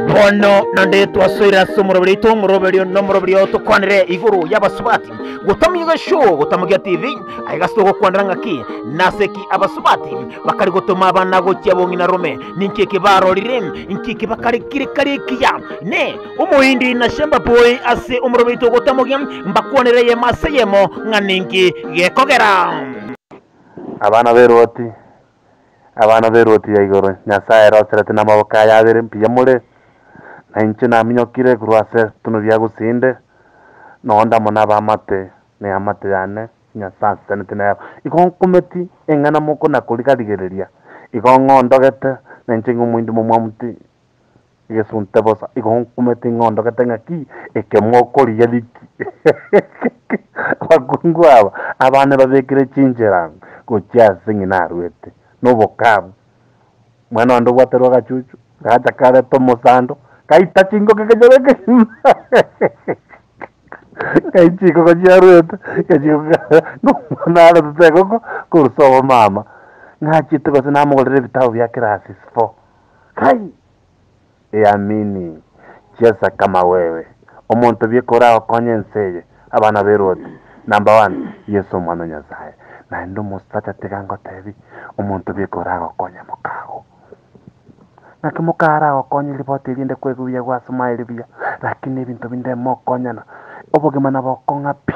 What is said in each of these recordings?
bono nande twasoire ase omoroberi oito omoroberi ono omoroberi oo tokwanire igoro y'abasubati gotamia egeshow gotamogia tv aye gase togokwanera ng'aki nase ki abasubati bakari gotoma abana gochia bong'ina rome ninki eki barorire inki eki bakari kiri kari ekiya ne omoindi na shamba boy ase omoroberi oito gotamogia mbakwanire eyemo ase eyemo ng'a ninki gekogera Abana be Loti, abana be Loti ya igoro, Nyasae aeroserete namaboko aye abere mbuya more, na inche naminyokire korwa ase etuno ria gusinde, na onde amo nabe amate, na eamate yane, Nyasae anseseneti nero. Igo nkometi eng'ana moko na koriga-rigereria, igo ng'ondogete, na inche ng'omointo momwamti, Egesunte bosa igo nkumete ing'ondogete ng'aki ekemo okorigia riki abakungu aba abane babekire chinchera gochia ase ng'ina naruete nobokabu omwana onde obwaterwe agachuchu gacha kareta omosando gaita chingoka ekechoro ekegima gai chikoko chiaruete naretete egoko korusa obomama ng'achete gose namogorera ebitabu bia classes four Kai! Eamini! Chiesa kama wewe, omonto bi kora okonye ense eye, abana be Loti, number one, Yeso Omwana o Nyasaye. Naende omosacha tiga ngotebi, omonto bi kora agokonye mokago. Naki moka ara agokonye riboti eria inde kwegubiagwa ase maye ribuya, lakini ebinto binde mokonyana, obogima nabokong'a pi.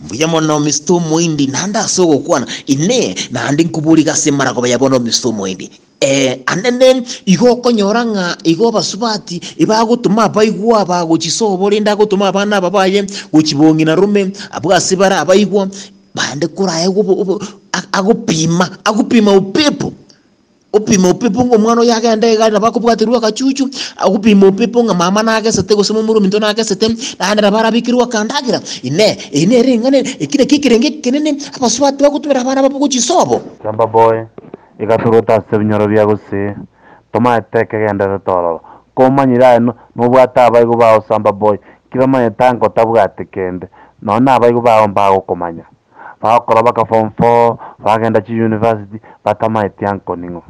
Mbuya mono Mister Omoindi, naende ase ogokwana, Inee, naende nkoboriga ase emaragoba ya bono Mister Omoindi? Ee, anene, igo okonyora ng'a igo abasubati ebagotoma abaigwa aba gochisobo rende agotoma abana aba baye gochibong'ina rome abwo ase bare abaigwa bande korae obo- obo- a- agopima agopima upepo Opime opepo ng'a omwana oyio agende iga nabo akobwaterwa agachuchu, agopima opepo ng'a mama nagesete gose momura ominto nagesete, naende nabo arabekirwe akandagera. Inee! Eye nere eng'ana eki naki ekerenge ekenene abasubati bagotumera abana babo gochisobo? Chamba boye, igasorota ase ebinyoro bia gose, tomaete ekegenderero tororo. Komanyire aye nobwate abaigo bao chamba boye, kera omanye tankotabwati kende, nonya nabaigo bao mbagokomanya. bagokora baka form four, bagenda chiuniversity, batamaeti anko ning'o.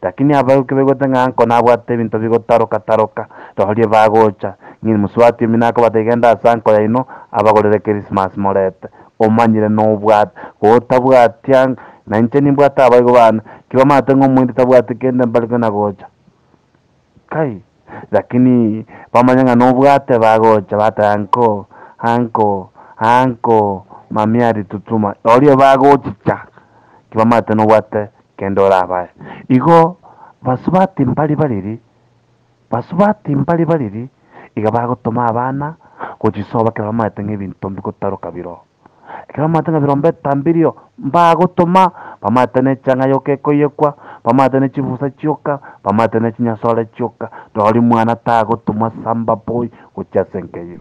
Lakini abaibwe kebaigwete ng'a anko nabwate ebinto bigotaroka taroka, rorie bagocha, ng'ini mosubati omino akobata iga enda ase anko yaino abagorere Christmas morete, omanyire nobwate, gotabwati ank, nainche nimbwate abaibwe bane, kibamaate ng'a omoindi tabwati kende mbare kona gocha. Lakini bamanya ng'a nobwate bagocha bateba, Nko, anko, anko, mamia aritutuma, oria bagochicha, tibamanyete nobwate kende orabae. Igo basubati mbari bariri, basubati mbari bariri, iga bagotoma abana gochisoba ekero bamanyete ng'a ebinto mbigotaroka biro. Ekero bamanyete ng'a birombe etaa mbirio, mbagotoma, bamanyete ne chang'aa yoka ekoyekwa, bamanyete ne chibusa chioka, bamanyete ne chinyasore chioka, rori mwana tagotumwa samba boy gochia ase enka eyio.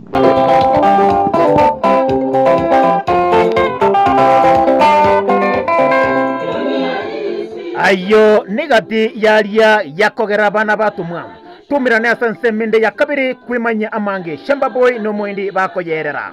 Ayio nigati yaria yakogera abana batumwa. Tumirane ase ensemo ende ya kabere kwimanyia amange samba boy na omoindi bakoyerera.